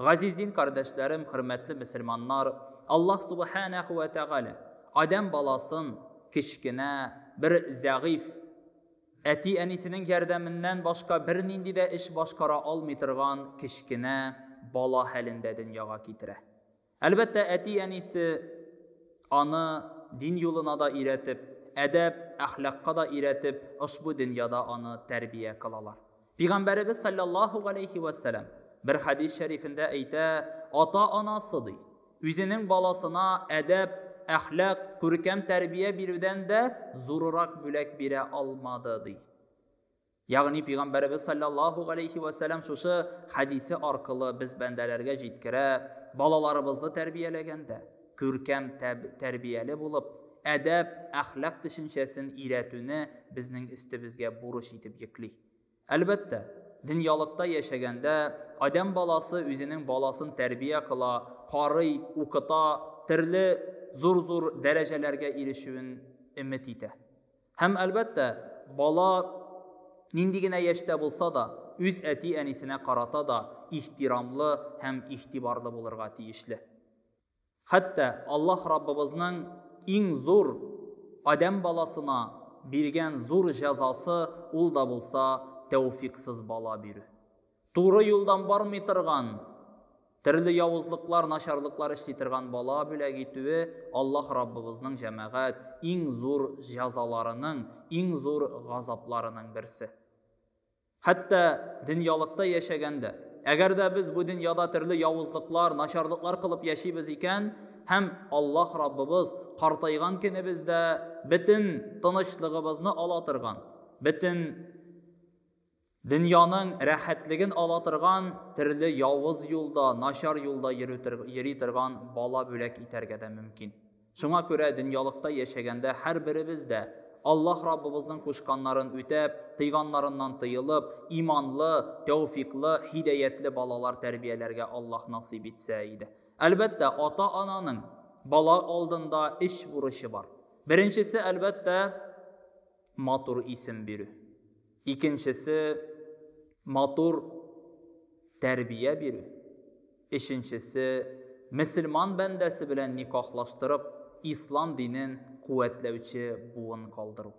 Газиз дин кардәшләрем, хөрмәтле мөселманнар, Аллаһ Субханәһу вә Тәгалә адәм баласын кечкенә бер зәгыйфь, әти-әнисенең ярдәменнән башка бернинди дә эш башкара алмый торган кечкенә бала хәлендә дөньяга китерә. Әлбәттә, әти-әнисе аны дин юлына да өйрәтеп, әдәп, әхлакка да өйрәтеп, ошбу дөньяда аны тәрбия кылалар. Пигамбәребез саллаллаху галәйһи ва сәлам бер хадис шәрифендә әйтә, ата-анасы ди, үзенең баласына әдәп, әхлак, күркәм тәрбия бирүдән дә зурырак бүләк бирә алмады ди. Ягъни пигамбәребез саллаллаху галәйһи ва сәлам шушы хадисе аркылы без бәндәләргә җиткерә, балаларыбызны тәрбияләгәндә, Күркәм тәрбияле булып, әдәп, әхлак төшенчәсен өйрәтүне безнең өстебезгә бурыч итеп йөкли. Әлбәттә, дөньялыкта яшәгәндә, адәм баласы үзенең баласын тәрбия кыла, карый, укыта, төрле зур-зур дәрәҗәләргә ирешүен өмет итә. Һәм, әлбәттә, бала нинди генә яшьтә булса да, үз әти-әнисенә карата да ихтирамлы һәм игътибарлы булырга тиешле. Хәтта Аллаһ Раббыбызның иң зур адәм баласына биргән зур җәзасы ул да булса тәүфиксыз бала бирү. Туры юлдан бармый торган, төрле явызлыклар, начарлыклар эшли торган бала бүләк итүе Аллаһ Раббыбызның җәмәгать иң зур җәзаларының, иң зур газапларының берсе. Хәтта дөньялыкта яшәгән дә. Әгәр дә без бу дөньяда төрле явызлыклар, начарлыклар кылып яшибез икән һәм Аллаһ Раббыбыз картайган көнебездә бөтен тынычлыгыбызны ала торган, бөтен дөньяның рәхәтлеген ала торган төрле явыз юлда, начар юлда йөри торган бала бүләк итәргә дә мөмкин. Шуңа күрә дөньялыкта яшәгәндә һәрберебез дә, Аллаһ Раббыбызның кушканнарын үтәп, тыйганнарыннан тыелып, иманлы, тәүфиклы, һидәятле балалар тәрбияләргә Аллаһ насыйп итсә иде. Әлбәттә, ата-ананың бала алдында өч бурычы бар. Беренчесе, әлбәттә, матур исем бирү. Икенчесе, матур тәрбия бирү. Өченчесе, мөселман бәндәсе белән никахлаштырып, ислам динен куәтләүче буын калдыру.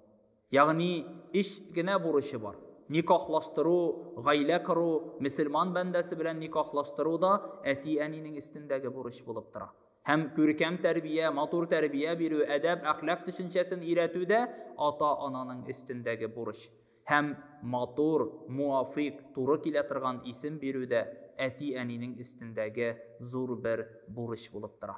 Ягъни, өч генә бурычы бар. Никахлаштыру, гаилә кору, мөселман бәндәсе белән никахлаштыру да әти-әнинең өстендәге бурыч булып тора. Һәм күркәм тәрбия, матур тәрбия бирү, әдәп, әхлак төшенчәсен өйрәтү дә ата-ананың өстендәге бурыч. Һәм матур, муафыйк, туры килә торган исем бирү дә әти-әнинең өстендәге зур бер бурыч булып тора.